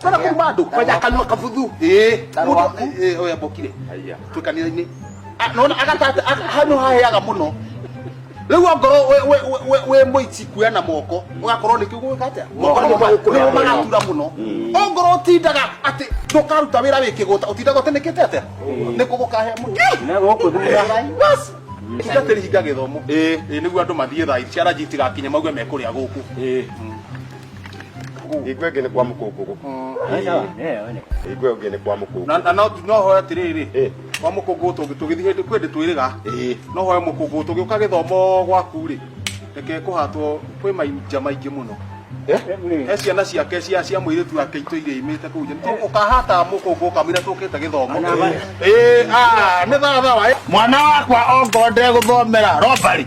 Tena kwa bado kwa jakanwa kafudhu. Eh, Tarwa. mutu- eh, oya bokire. Aya. Twi kanitha-inĩ. Ah, Nona agatata hanu haheaga muno. Rĩu ongorwo we- we- we- we- we mũici kuoya na moko ũgakorwo nĩ kĩu gwĩka atĩa Moko nĩmo magũkũra nĩmo mũno. magatura mũno ongorwo ũtindaga atĩ ndũkaruta wĩra wĩ kĩgũta ũtindaga ũtĩnĩkĩte atĩa nĩ kũgũkahea mũno Na gũkũ thutha. Bas. Tungatĩri hinga gĩthomo. Ĩĩ. Ĩĩ, nĩguo andũ mathiĩ thaa ici cia ranji itigakinye mauge mekũrĩa gũkũ Ĩĩ. igwe gene kwa mukogogo igwe gene kwa mukogogo na na no no hoya tiriri Eh. kwa mukungu tungi tugithi hindi kwende twiriga Eh. no hoya mukungu tungi uka githomo gwaku ri reke kuhatwo kwi mainja maingi muno Eh? he ciana ciake cia cia mwiritu wake itå irä imä te kå nja ukahata må kå ngå kamira tå kä te gä thomo nä thaathawa mwana wakwa ongonde gũthomera robari